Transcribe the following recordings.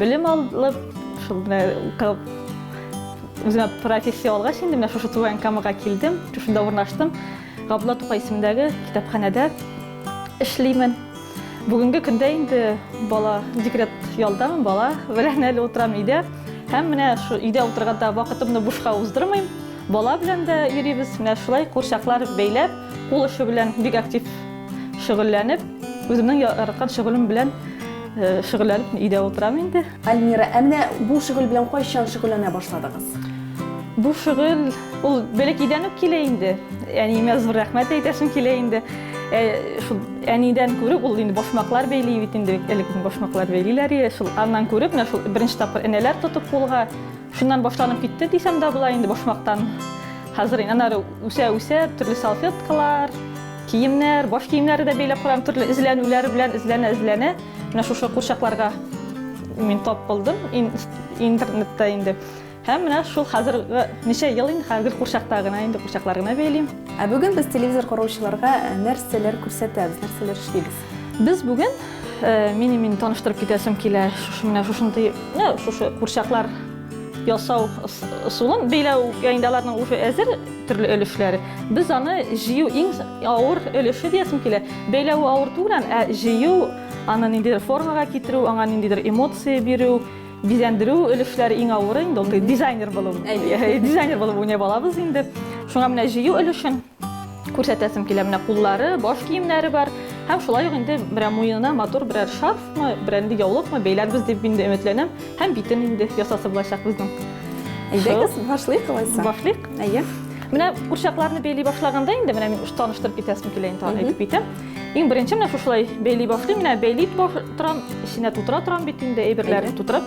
Белем алып, шул менә укып, үземә профессия алгач, инде менә шушы туган Камага килдем, шушында урнаштым. Габдулла Тукай исемендәге китапханәдә эшлимен. Бүгенге көндә инде бала декрет ялдамын, бала белән әле утырам өйдә. Һәм менә шу өйдә утырганда вакытымны бушка уздырмыйм. Бала белән дә йөрибез. Менә шулай курчаклар бәйләп, кул эше белән бик актив шөгыльләнеп, үземнең яраткан шөгылем белән Э, шөгыльләнеп өйдә утырам инде. Альмира, ә менә бу шөгыль белән кайчан шөгыльләнә башладыгыз? Бу шөгыль ул бәләкәйдән үк килә инде. Әниемә зур рәхмәт әйтәсем килә инде. Э, шул әнидән күреп ул инде башмаклар бәйли бит инде элек башмаклар бәйлиләр иде. Шул аннан күреп менә шул беренче тапкыр энәләр тотып кулга шуннан башланып китте дисәм дә була инде башмактан. Хәзер инде аннары үсә-үсә төрле салфеткалар, Киемнәр, баш киемнәре дә бәйләп карадым, төрле эзләнүләр белән эзләнә-эзләнә, менә шушы курчакларга мин тап булдым интернетта инде. Һәм менә шул хәзер ничә ел инде хәзер курчакта гына инде курчаклар гына бәйлим. Ә бүген без телевизор караучыларга э, нәрсәләр күрсәтәбез, нәрсәләр эшлибез? Без бүген э, мин мин таныштырып китәсем килә шушы менә шушындый, шушы курчаклар ясау ысулын бәйләү инде аларның уже әзер төрле өлешләре. Без аны җыю иң авыр өлеше диясем килә. Бәйләве авыр түгел, ә җыю, аны ниндидер формага китерү, аңа ниндидер эмоция бирү, бизәндерү өлешләре иң авыры инде ул дизайнер булу. Дизайнер булып уйный балабыз инде. Шуңа менә җыю өлешен күрсәтәсем килә. Менә куллары, баш киемнәре бар. Һәм шулай ук инде берәр муенына матур берәр шарфмы, берәр инде яулыкмы бәйләрбез дип инде өметләнәм. Һәм битен инде ясасы булачак безнең. Әйдәгез, башлыйк алайса. Башлыйк. Әйе. Менә курчакларны бәйли башлаганда инде менә мин таныштырып китәсем килә инде әйтеп китәм. Иң беренче менә шушылай бәйли башлыйм, менә бәйли торам, эченә тутыра торам бит инде әйберләрне тутырып.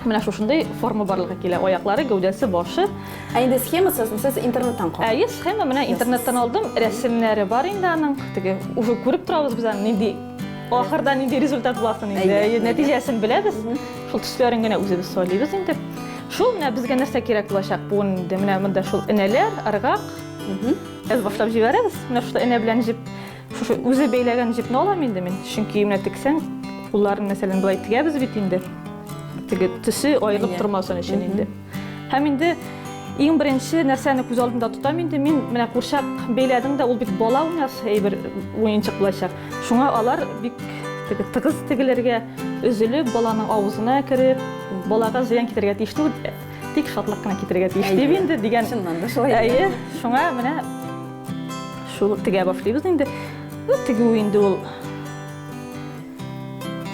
Менә шушындай форма барлыгы килә. Аяклары, гәүдәсе, башы. Ә инде схемасы сез интернеттан калды. Әйе, схема менә интернеттан алдым. Рәсемнәре бар инде аның. Теге уже күреп торабыз без аны нинди ахырда нинди результат буласын инде. Әйе, нәтиҗәсен беләбез. Шул төсләрен генә үзебез сайлыйбыз инде. Шул менә безгә нәрсә кирәк булачак? Бу инде менә монда шул энәләр, ыргак. Без башлап җибәрәбез. Менә шул энә белән җеп, шушы үзе бәйләгән җипне алам инде мин. Чөнки менә тексәң, кулларын мәсәлән былай тегәбез бит инде. Теге төсе аерылып тормасын өчен инде. Һәм инде иң беренче нәрсәне күз алдында тотам инде мин менә курчак бәйләдем дә ул бит бала уйнас әйбер уенчык булачак шуңа алар бик тыгыз тегеләргә өзелеп баланың авызына кереп балага зыян китерергә тиеш түгел тик шатлык кына китерергә тиеш дип инде дигән чыннан да шулай әйе шуңа менә шул тегә башлыйбыз инде тегү инде ул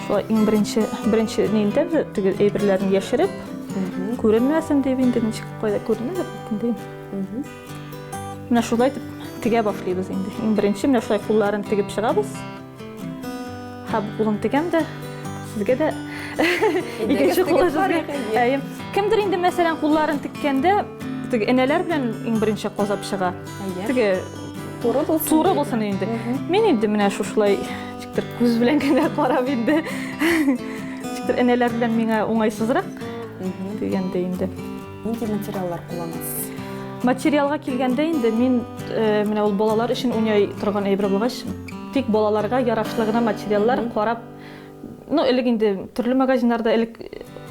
Шулай иң беренче, беренче нинде теге әйберләрне яшереп, күренмәсен дип инде ничек кайда күренер инде. Менә шулай итеп тегә башлыйбыз инде. Иң беренче менә шулай кулларын тегеп чыгабыз. Һәм кулын тегәм дә сезгә дә икенче кулы сезгә. Әйе. Кемдер инде мәсәлән кулларын теккәндә теге энәләр белән иң беренче казап чыга. Теге туры булсын. Туры булсын инде. Мин инде менә шушылай Бер күз белән генә карап инде. Ничектер энәләр белән миңа уңайсызрак дигәндә инде. Нинди материаллар кулланасыз? Материалга килгәндә инде мин э, менә ул балалар өчен уйный торган әйбер булгач, тик балаларга ярашлы гына материаллар карап, ну элек инде төрле магазиннарда элек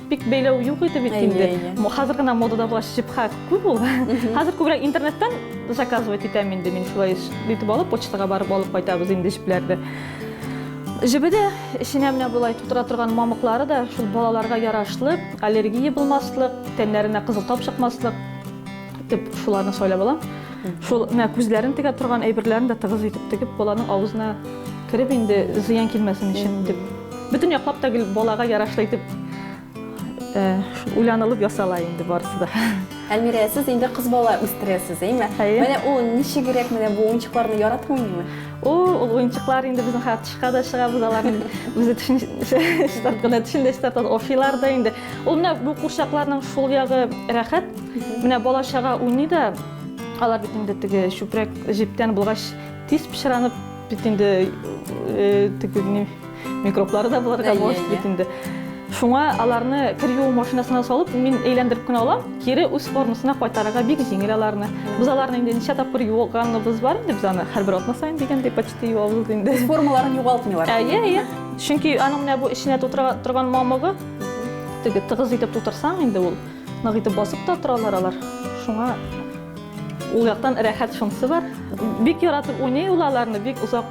бик бәйләү юк иде бит инде хәзер генә модада була шипха күп ул хәзер күбрәк интернеттан заказывать итәм инде мин шулай итеп алып почтага барып алып кайтабыз инде җепләрне җебе дә эченә менә болай тутыра торган мамыклары да шул балаларга ярашлы аллергия булмаслык тәннәренә кызыл тап чыкмаслык итеп шуларны сайлап алам шул менә күзләрен тегә торган әйберләрен дә тыгыз итеп тегеп баланың авызына кереп инде зыян килмәсен өчен дип Бөтен яклап та гел балага ярашлы итеп уйланылып ясала инде барысы да. Әлмирә, сез инде кыз бала үстерәсез, әйме? Әйе. Менә ул ничегрәк менә бу уенчыкларны яратып уйныймы? О, ул уенчыклар инде безнең хәзер тышка да чыга, без аларны үзе төшен чистарт кына төшен дә чистартабыз, офилар да инде. Ул менә бу курчакларның шул ягы рәхәт. Менә бала чага уйный да, алар бит инде теге чүпрәк җептән булгач тиз пычранып бит инде э, теге ни микроблары да булырга мөмкин иә, бит иә. инде шуңа аларны кер юу машинасына салып мин әйләндереп кенә алам кире үз формасына кайтарырга бик җиңел аларны без аларны инде ничә тапкыр юылганыбыз бар инде без аны һәрбер атна саен дигәндәй почти юабыз инде формаларын югалтмыйлар әйе әйе чөнки аның менә бу эченә тутыра торган мамыгы теге тыгыз итеп тутырсаң инде ул нык итеп басып та торалар алар шуңа Ул яктан рәхәт шунсы бар. Бик яратып уйный ул аларны, бик озак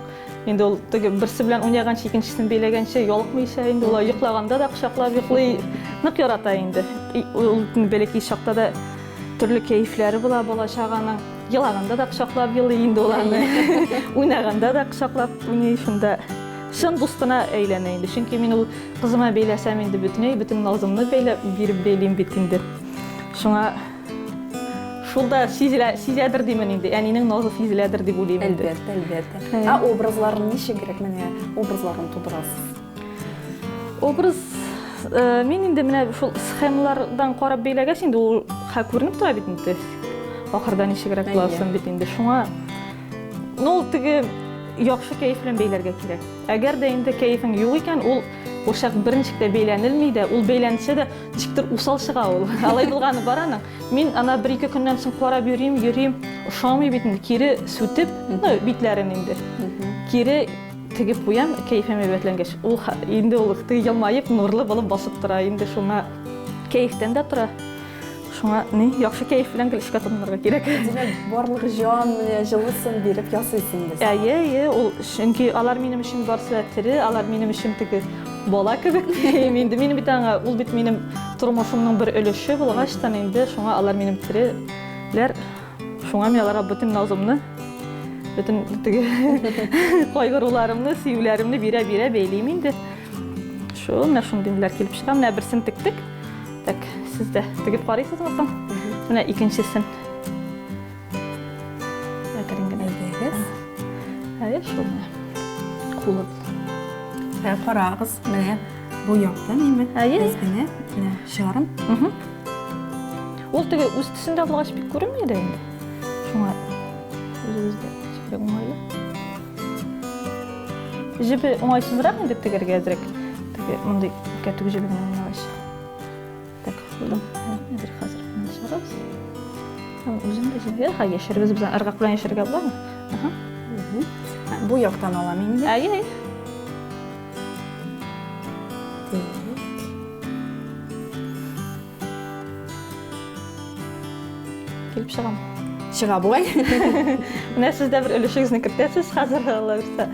инде ул теге берсе белән уйнаганчы, икенчесен бәйләгәнче йолыкмыйча инде ул йоклаганда да кочаклап йоклый. Нык ярата инде. Ул бәләкәй чакта да төрле кәефләре була бала чаганың. Елаганда да кочаклап елый инде ул аны. Уйнаганда да кочаклап уйный шунда. Чын дустына әйләнә инде. Чөнки мин ул кызыма бәйләсәм инде бөтенләй бөтен назымны бәйләп биреп бәйлим бит инде. Шуңа Шул да сизелә, сизәдер димен инде. Әнинең назы сизеләдер дип уйлыйм инде. Әлбәттә, әлбәттә. Ә образларын ничегрәк менә образларын тудырасыз? Образ э, мин инде менә шул схемалардан карап бәйләгәч инде ул ха күренеп тора бит инде. Ахырда ничегрәк буласын бит инде. Шуңа ну теге яхшы кәеф белән бәйләргә кирәк. Әгәр дә инде кәефең юк икән, ул ошак берничек тә бәйләнелми дә, ул бәйләнсә дә Ничектер усал чыга ул. Алай булганы бар аның. Мин ана бер-ике көннән соң карап йөрим, йөрим, ошамый бит инде. Кире сүтеп, ну, битләрен инде. Кире тегеп куям, кәефем әйбәтләнгәч. Ул инде ул елмаеп, нурлы булып басып тора. Инде шуңа кәефтән дә тора. Шуңа ни, яхшы кәеф белән гел эшкә тотынырга кирәк. Димәк, барлык җан, җылысын биреп ясыйсың без. Әйе, әйе, ул чөнки алар минем өчен барсы да тере, алар минем өчен теге Бала кебек дим инде. Мин бит аңа, ул бит минем тормышымның бер өлеше булгач та инде шуңа алар минем тиреләр. Шуңа мин аларга бөтен назымны, бөтен теге кайгыруларымны, сөюләремне бирә-бирә бәйлим инде. Шул менә шундый ниләр килеп чыга. Менә берсен тектек. Так, сез дә тегеп карыйсызмы соң? Менә икенчесен. Әкрен генә эзләгез. Әле шуны кулып. Ә карагыз, менә бу яктан инде без генә чыгарым. Ул теге үз төсендә булгач бик күренми дә инде. Шуңа үзегездә чикле уңайлы. Җебе уңайсызрак инде тегергә әзрәк. Теге мондый кәтүк җебе генә булгач. Так, бу әзер хәзер генә чыгабыз. Һәм үзем дә җибәр, ха яшәргез бездән ыргак белән яшәргә буламы? Аһа. Бу яктан алам инде. Әй, әй. Килеп чыгам. Чыга бугай. Менә сез дә бер өлешегезне кертәсез хәзер аллабирса.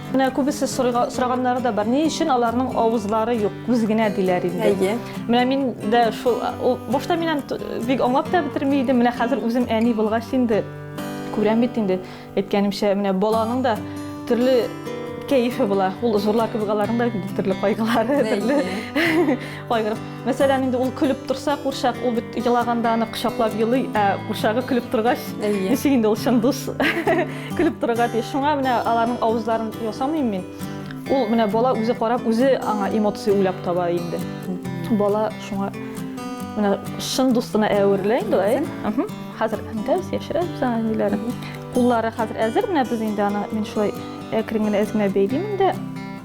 Менә күбесе сораганнары да бар. Ни өчен аларның авызлары юк, күз генә диләр инде. Әйе. Менә мин дә шул башта мин бик аңлап та бетерми идем. Менә хәзер үзем әни булгач инде күрәм бит инде. Әйткәнемчә, менә баланың да төрле кәефе була. Ул зурлар кебек аларның да төрле кайгылары, төрле кайгырып Мәсәлән, инде ул көлеп торса, курчак, ул бит елаганда аны кочаклап елый, ә курчагы көлеп торгач, ничек инде ул чын дус көлеп торырга тиеш. Шуңа менә аларның авызларын ясамыйм мин. Ул менә бала үзе карап, үзе аңа эмоция уйлап таба инде. Бала шуңа менә шын дустына әверелә инде ул. Э? Хәзер әндәбез, яшерәбез аңа ниләрен. Куллары хәзер әзер, менә без инде аны мин шулай әкрен генә эзенә бәйлим инде.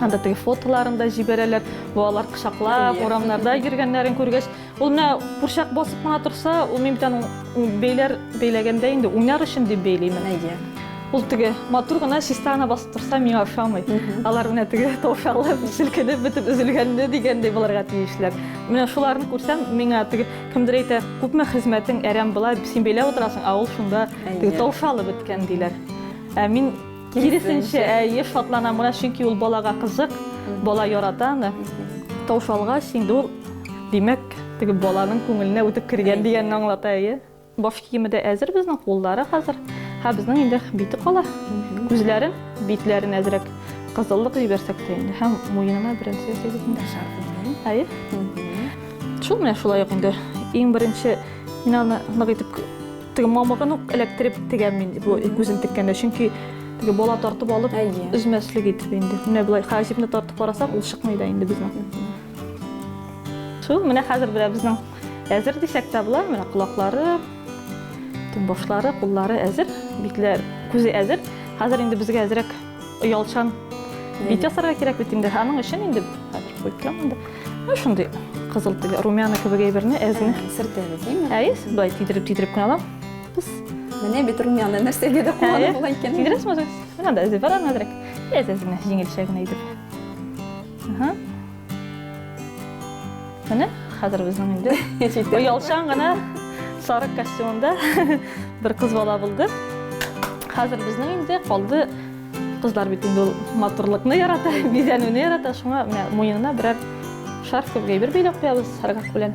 Анда теге фотоларын да җибәрәләр, балалар кочаклап, урамнарда йөргәннәрен күргәч, ул менә курчак басып кына торса, ул мин битән бәйләр бәйләгәндә инде уйнар өчен дип бәйлимен. Әйе. Ул теге матур гына чиста гына басып торса, миңа ошамый. Алар менә теге тавшалып, селкенеп бетеп өзелгәнне дигәндәй булырга тиешләр. Менә шуларны күрсәм, миңа теге кемдер әйтә, күпме хезмәтең әрәм була, син бәйләп утырасың, ә ул шунда теге тавшалып беткән диләр. Ә мин Киресенчә, әйе, шатланам гына, чөнки ул балага кызык, бала ярата аны. Тавыш алгач, инде ул, димәк, теге баланың күңеленә үтеп кергән дигәнне аңлата, әйе. Баш киеме дә әзер безнең, куллары хәзер. Һә безнең инде бите кала. Күзләрен, битләрен әзрәк кызыллык җибәрсәк тә инде һәм муенына беренче ясыйбыз инде. Әйе. Шул менә шулай ук инде. Иң беренче мин аны нык итеп Теге мамыгын ук эләктереп тегәм мин бу күзен теккәндә, чөнки теге бала тартып алып өзмәслек итеп инде. Менә болай хәҗипне тартып карасак, ул чыкмый да инде безнең. Шул менә хәзер белә безнең әзер дисәк тә була, менә колаклары, башлары, куллары әзер, битләр, күзе әзер. Хәзер инде безгә әзрәк Оялчан бит ясарга кирәк бит инде. Аның өчен инде хәзер куеп торам инде. Менә шундый кызыл тел, румяна кебек әйберне әзме? Сертәбез, димме? Әйе, былай тидереп тидереп кенә алам. Пс. Менә бит румяна нәрсәгә дә куллану була икән. Тидерәсме үзегез? Менә да эзе бар аны әзрәк. Әз-әзме, җиңелчә генә итеп. Ага. Менә хәзер безнең инде оялчан гына сарык костюмында бер кыз бала булды. Хәзер безнең инде калды кызлар бит инде ул матурлыкны ярата, бизәнүне ярата, шуңа менә муенына берәр шарф кебек әйбер бәйләп куябыз саргак белән.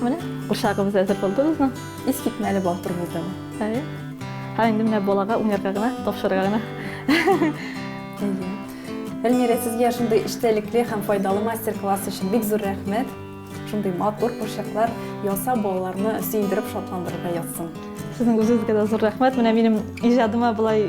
Менә курчагыбыз әзер булды безнең. Искитмәле бал турбызы. Әйе. Һәм инде менә балага уйнарга гына, тапшырырга гына. Әйе. Эльмира, сезгә шундый эчтәлекле һәм файдалы мастер-класс өчен бик зур рәхмәт. Шундый матур курчаклар яса балаларны сөендереп шатландырырга язсын. Сезнең үзегезгә дә зур рәхмәт. Менә минем иҗадыма болай